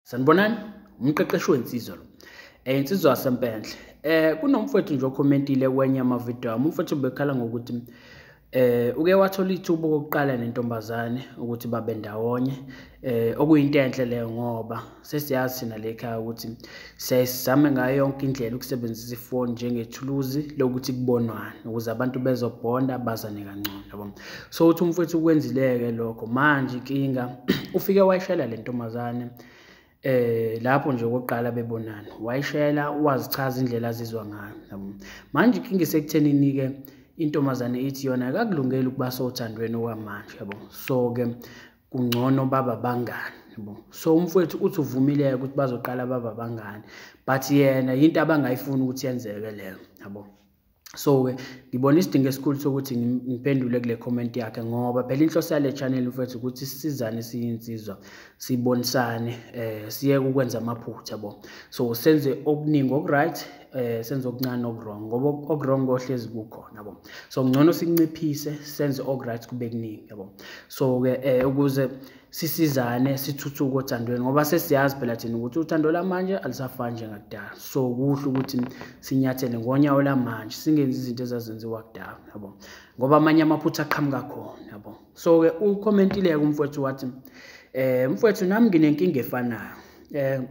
sanibonani umqeqeshi wensizwa lo um insizwa yasempenhle um kunomfowethu nje okhomentile kwenye amavidiyo ami umfowethu bekhala ngokuthi eh uke wathola ithuba okokuqala nentombazane ukuthi babe ndawonye eh okuyinto enhle leyo ngoba sesiyazi thina le ekhaya ukuthi siyayisizame ngayo yonke indlela ukusebenzisa ifoni njengethuluzi lokuthi kubonwane ukuze abantu bezobhonda bazane kangcono yabo so uthi umfowethu ukwenzileke lokho manje inkinga ufike wayishela le ntombazane eh lapho nje okokuqala bebonana wayishela wazichaza indlela azizwa ngayo yabo manje inkinga isekuthenini ke intombazane ithi yona akakulungeli ukuba sothandweni okwamanje yabo so ke kungcono baba bangani yabo so umfowethu uthi uvumile ukuthi bazoqala baba bangani but yena into abangayifuni ukuthi yenzeke leyo yabo so-ke ngibona isidingo esikhulu sokuthi ngiphendule kule comment yakhe ngoba phela inhloso yale channel mfethu ukuthi sisizane siyinsizwa sibonisane eh siyeke ukwenza amaphutha bo so senze okuningi okuright eh senze okuncane okurong ngoba okurong kohlezi kukhona bo so ngcono sinciphise senze okuright kube kuningi yabo so ke eh ukuze sisizane sithuthuke othandweni ngoba sesiyazi phela thina ukuthi uthando lamanje alisafani njengakudala so kuhle ukuthi sinyathele ngonyawo lamanje singenzi izinto ezazenziwa kudala yabo ngoba amanye amaphutha aqhamuka khona yabo so-ke ukhomentileke umfowethu wathi um mfowethu nami nginenkinga efanayo um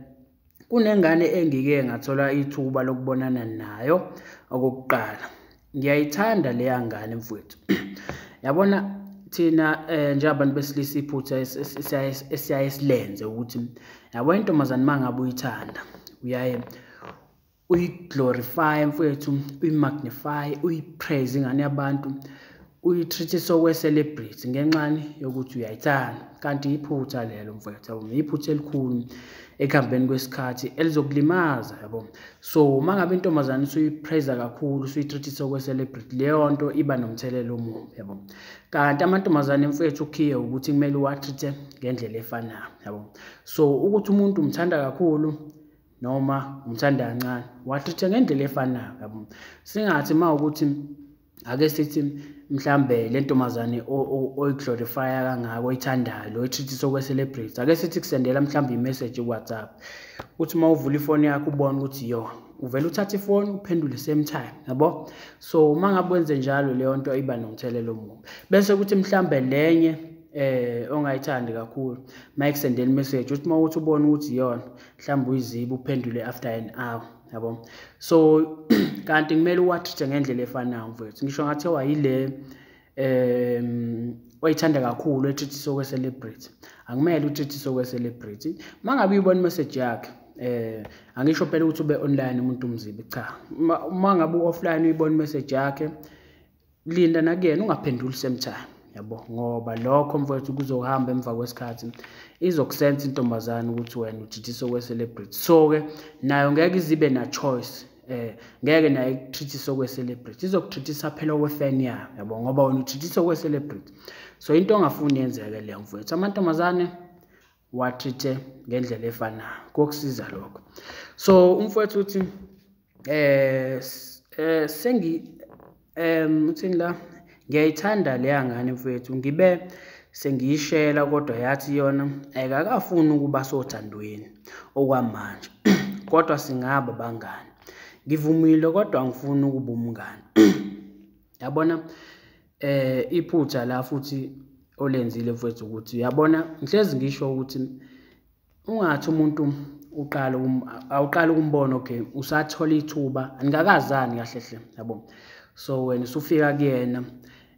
kunengane engike ngathola ithuba lokubonana nayo okokuqala ngiyayithanda leya ngane mfowethu yabona thina eh njengabantu besilisa iphutha esiyaye silenze ukuthi yabo intombazane mangabe uyithanda uyaye uyiglorify mfowethu uyimagnify uyipraise ingane yabantu uyitreat-e sokwe-celebrity ngenxani yokuthi uyayithanda kanti yiphutha lelo mfowethu yabo yiphutha elikhulu ekuhambeni kwesikhathi elizokulimaza yabo so uma ngabe intombazane usuyipreza kakhulu usuyitreat-e sokwe-celebrity leyo nto iba nomthelela omubi yabo kanti amantombazane mfowethu ukhiye ukuthi kumele uwatreat-e ngendlela efanayo yabo so ukuthi umuntu umthanda kakhulu noma umthanda kancane wathuthe ngendlela efanayo yabo singathi uma ukuthi ake sithi mhlambe le ntombazane oyiglorifya kangako oyithandayo lo ithithisa okwe-celebrate ake sithi kusendela mhlawumbe imessage kuwhatsapp ukuthi uma uvula ifoni yakho ubone ukuthi yo uvele uthathe ifoni uphendule same time yabo so uma ngabe wenze njalo leyo nto iba nomthelelo omubi bese kuthi mhlambe lenye eh ongayithandi kakhulu mayikusendela imessage uthi uma uthi ubona ukuthi iyona mhlawumbe uyiziba uphendule after an hour yabo so kanti kumele uwathithe ngendlela efanayo mfowethu ngisho ngathiwa yile um oyithanda kakhulu etrithiswe kwe-celebrity akumele utrithiswe kwe-celebrity uma ngabe uyibona imeseji yakhe eh angisho phela ukuthi ube online umuntu umzibi cha uma ngabe offline uyibona message yakhe linda nakuyena ungaphenduli same time yabo ngoba lokho mfowethu kuzohamba emva kwesikhathi izokusensa intombazane ukuthi wena ujithisa okwe-celebrity so-ke nayo ngeke izibe na-choice eh ngeke naye kuthithisa okwe-celebrity izokuthithisa phela okwe-fan yayo yabo ngoba wena uthithisa okwe-celebrity so into ongafuni yenzeke leyo mfowethu amantombazane wathithe ngendlela efanayo kokusiza lokho so umfowethu uthi eh, eh sengi em uthini la ngiyayithanda leya ngane mfowethu ngibe sengiyishela kodwa yathi yona ayikakafuni ukuba sothandweni okwamanje kodwa singaba bangani ngivumile kodwa angifuni ukuba umngani yabona eh iphutha la futhi olenzile mfethu ukuthi uyabona ngihlezi ngisho ukuthi ungathi umuntu uqala awuqala ukumbona okay usathola ithuba anikakazani kahle hle yabo so wena usufika kuyena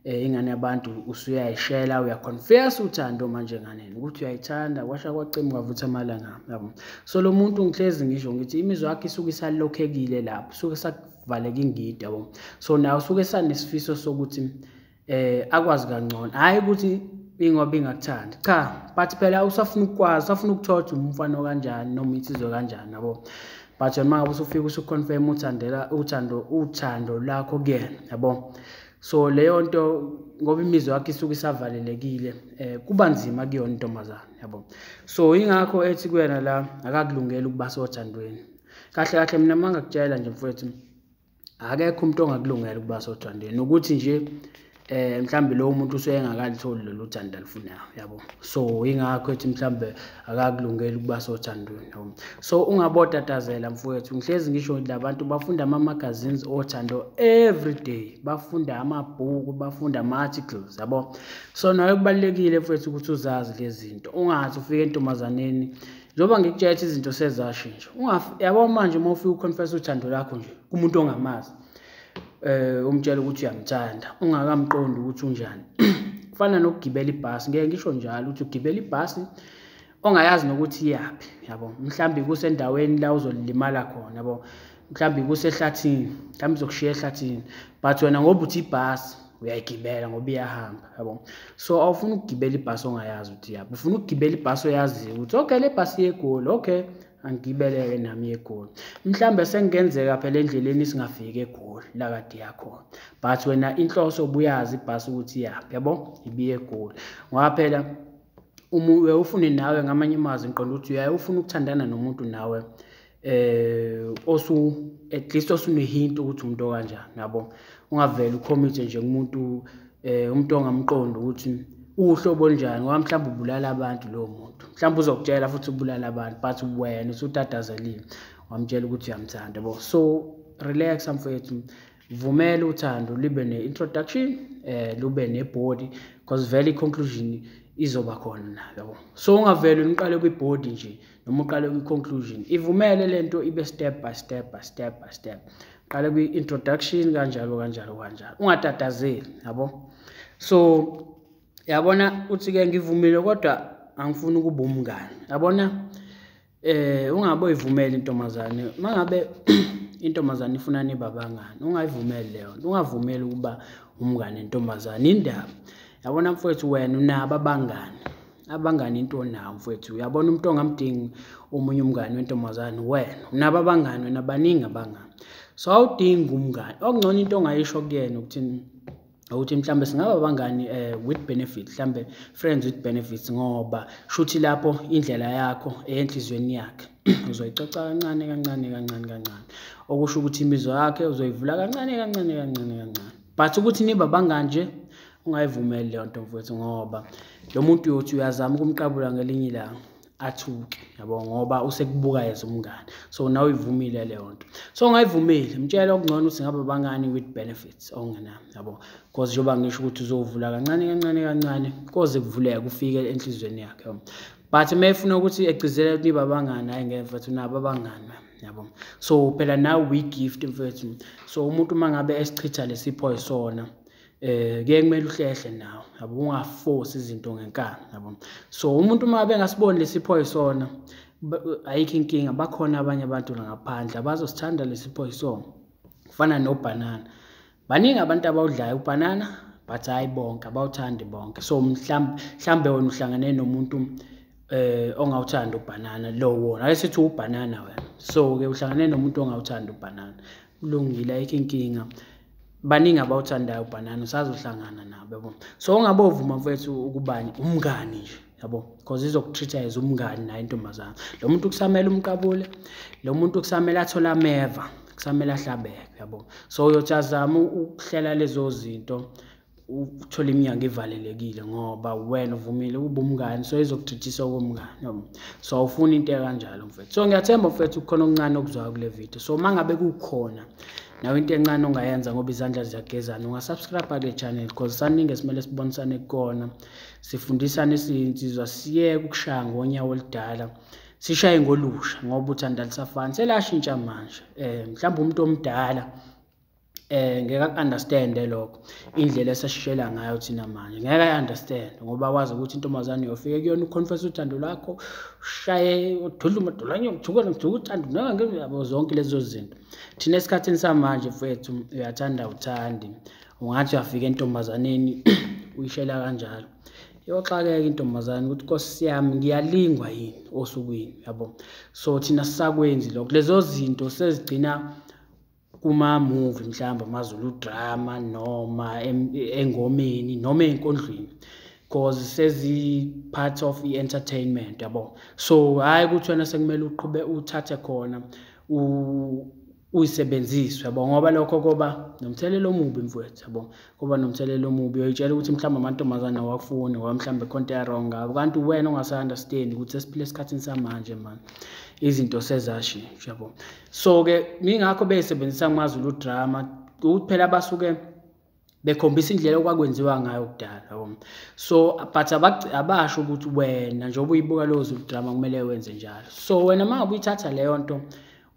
eh ingane yabantu usuyayishela uyaconfess uthando manje nganeni ukuthi uyayithanda kwasha kwacima kwavutha amalanga yabo so lo muntu ngihlezi ngisho ngithi imizwa yakhe isuke isalokhekile lapho suke kuvaleka ingidi yabo so naye usuke esanesifiso sokuthi eh akwazi kangcono hayi ukuthi ingoba ingakuthandi cha but phela usafuna ukukwazi usafuna ukuthola ukuthi umfana okanjani noma insizwe kanjani yabo but yona mangabe usufika usuconfirm uthandela uthando uthando lakho kuyena yabo so leyo nto ngoba imizwa yakhe isuke isavalelekile eh kuba nzima kuyona intombazane yabo so ingakho ethi kuyena la akakulungela ukuba sothandweni kahle kahle mina uma ngakutshela nje mfowethu akekho umuntu ongakulungela ukuba sothandweni nokuthi nje eh mhlambe lo muntu useyengakalithola lolu thando alufunayo yabo so ingakho ethi mhlambe akakulungeli ukuba sothandweni yabo so ungabotatazela mfowethu ngihlezi ngisho labantu bafunda ama magazines othando every day bafunda amabhuku bafunda ama articles yabo so nayo kubalekile mfowethu ukuthi uzazi lezi zinto ungathi ufike entombazaneni njengoba ngikutshela ukuthi izinto sezashintsha yabo manje uma ufika uconfessa uthando lakho nje kumuntu ongamazi eh umtshela ukuthi uyamthanda ungakamqondi ukuthi unjani kufana nokugibela ibhasi ngeke ngisho njalo ukuthi ugibela ibhasi ongayazi nokuthi iyaphi yabo mhlambi kusendaweni la uzolimala khona yabo mhlawumbe kusehlathini mhlawumbe izokushiya ehlathini but wena ngoba uthi ibhasi uyayigibela ngoba iyahamba yabo so awufuni ukugibela ibhasi ongayazi ukuthi yabo ufuna ukugibela ibhasi oyaziyo ukuthi okay le bhasi yegoli okay angigibeleke nami yegoli mhlawumbe sekungenzeka phela endleleni singafiki egoli la kade yakhona but wena inhloso ubuyazi ibhasi ukuthi iyaphi yabo ibiye egoli ngoba phela uma ufune nawe ngamanye amazwi ngiqonda ukuthi uyaye ufuna ukuthandana nomuntu nawe eh osu at least osunehinto ukuthi umuntu okanjani yabo ungavela ucommit nje kumuntu eh umuntu ongamqondi ukuthi uhlobo njani ngoba mhlawumbe ubulala abantu lowo muntu mhlawumbe uzokutshela futhi ubulala abantu but wena usutatazelile wamtshela ukuthi uyamthanda bo so relax mfowethu vumela uthando libe ne-introduction eh lube nebody because vele i-conclusion izoba khona na yabo so ungavele niqale kwi-body nje noma uqale kwi-conclusion ivumele le nto ibe step by step by step by step qale kwi-introduction kanjalo kanjalo kanjalo ungatatazeli yabo so yabona uthi-ke ngivumile kodwa angifuni ukuba umngane yabona Eh ungabe uyivumeli intombazane mangabe intombazane ifuna niba bangani ungayivumeli leyo nto ungavumeli ukuba umngane intombazane indaba yabona mfowethu wena unabo abangani abangani into onawo mfowethu uyabona umuntu ongamdingi omunye umngane wentombazane wena unabo abangani wena baningi abangani so awudingi umngane okungcono into ongayisho kuyena ukuthi ukuthi mhlambe singaba bangani eh with benefit mhlambe friends with benefits ngoba shuthi lapho indlela yakho eyenhlizweni yakhe uzoyicoca kancane kancane kancane kancane okusho ukuthi imizwa yakhe uzoyivula kancane kancane kancane kancane but ukuthi niba bangani nje ungayivumeli leyo nto mfowethu ngoba lo muntu uyothi uyazama ukumqabula ngelinye ilanga athuke yabo ngoba usekubuka yeza umngane so nawe uyivumile leyo nto so ungayivumile mtshela okungcono ukuthi ngabe bangani with benefits okungenami yabo because njengoba ngisho ukuthi uzovula kancane kancane kancane koze kuvuleke kufike enhliziyweni yakhe but uma efuna ukuthi egcizele ukuthi niba bangani hayi ngeke mfethu nabo abangani yabo so phela nawe uyigift mfethu so umuntu uma ngabe esichitha lesipho yisona eh ke kumele uhlehle nawe yabo ungaforce izinto ngenkani yabo so umuntu uma bengasiboni lesipho isona ayikho inkinga bakhona abanye abantu ngaphandle abazosithanda lesipho isona kufana nobhanana baningi abantu abawudlayo ubhanana but hayi bonke abawuthandi bonke so mhlawumbe mhlawumbe wena uhlangane nomuntu eh ongawuthanda ubhanana lo wona ake sithi ubhanana wena so ke uhlangane nomuntu ongawuthanda ubhanana kulungile ayikho inkinga baningi abawuthandayo ubhanana usazohlangana nabo yabo so ungabovuma mfethu ukubani umngani nje yabo because izokutreat as umngani naye intombazana lo muntu kusamele umqabule lo muntu kusamele athole ameva kusamele ahlabeke yabo so uyothi azama ukuhlela lezo zinto uthole iminyango ivalelekile ngoba wena uvumile ukuba umngani so izokudidisa okomngani yabo so awufuni into ekanjalo mfethu so ngiyathemba mfethu kukhona okuncane okuzwayo kule video so uma ngabe kukhona nawe into encane ongayenza ngoba izandla ziyagezana ungasubscribe le channel because saningi esimele sibonisane kukona sifundisane siyinsizwa siyeke ukushaya ngonyawo oludala sishaye ngolusha ngoba uthanda lisafani selashintsha manje um mhlawumbe umuntu omdala eh ngeke understand lokho indlela esashishela ngayo thina manje ngeke understand ngoba wazi ukuthi intombazane yofike kuyona uconfess uthando lwakho ushaye ududla umadolanye uthukela ngithuka uthando nangeke zonke lezo zinto thina esikhathini samanje mfethu uyathanda uthandi ungathi uyafika entombazaneni uyishela kanjalo iyoxakeka intombazane ukuthi nkosi yami ngiyalingwa yini osukwini yabo so thina sisakwenzi lokho lezo zinto sezigcina kuma-movie mhlawumbe amazulu drama noma engomeni noma ey'nkondlweni because sezi-part of i-entertainment yabo so hhayi ukuthi wena sekumele uqhube uthathe khona uyisebenziswe yabo ngoba lokho koba nomthelela omubi mfowethu yabo koba nomthelela omubi uyitshela ukuthi mhlawumbe amantombazane awafuni ngoba mhlawumbe khonto yarong ngabo kanti wena ongasa-understand ukuthi sesiphile esikhathini samanje mani izinto sezashintsha yabo so-ke ngingakho beyisebenzisa kumazulu drama ukuthi phela basuke bekhombisa indlela okwakwenziwa ngayo kudala um so but abasho ukuthi wena njengoba uyibuka leyo zulu drama kumele wenze njalo so wena uma ubuyithatha leyo nto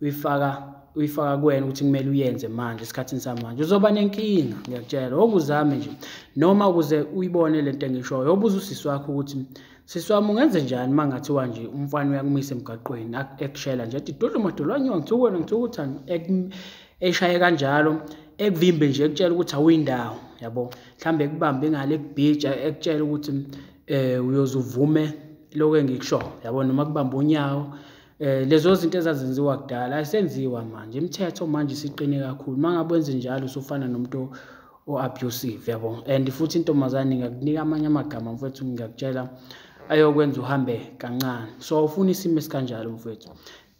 uyifaka uyifaka kuwena ukuthi kumele uyenze manje esikhathini samanje uzoba nenkinga ngiyakutshela okuzame nje noma ukuze uyibone le nto engishoyo obuza usisi wakho ukuthi sisi wami ungenze njani uma ngathiwa nje umfana uyakumisa emgaqweni ekushela nje ethi dudla umadolwanywa ngithukwena ngithukuthani eshaye kanjalo ekuvimbe nje ekutshela ukuthi awuyindawo yabo mhlambe ekubambe ngale kubhija ekutshela ukuthi um eh, uyoze uvume lokho engikushoyo yabo noma kubamba unyawo eh lezo zinto ezazenziwa kudala ayisenziwa manje imithetho manje siqine kakhulu mangabe wenze njalo usufana nomuntu o-abusive yabo and futhi intombazane ngakunika amanye amagama mfethu ngiyakutshela ayokwenza uhambe kancane so awufuni isimo esikanjalo mfethu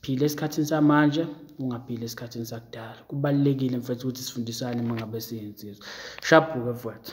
phila esikhathini samanje ungaphila esikhathini sakudala kubalulekile mfethu ukuthi sifundisane uma ngabe siyinsizwa shabhuke mfethu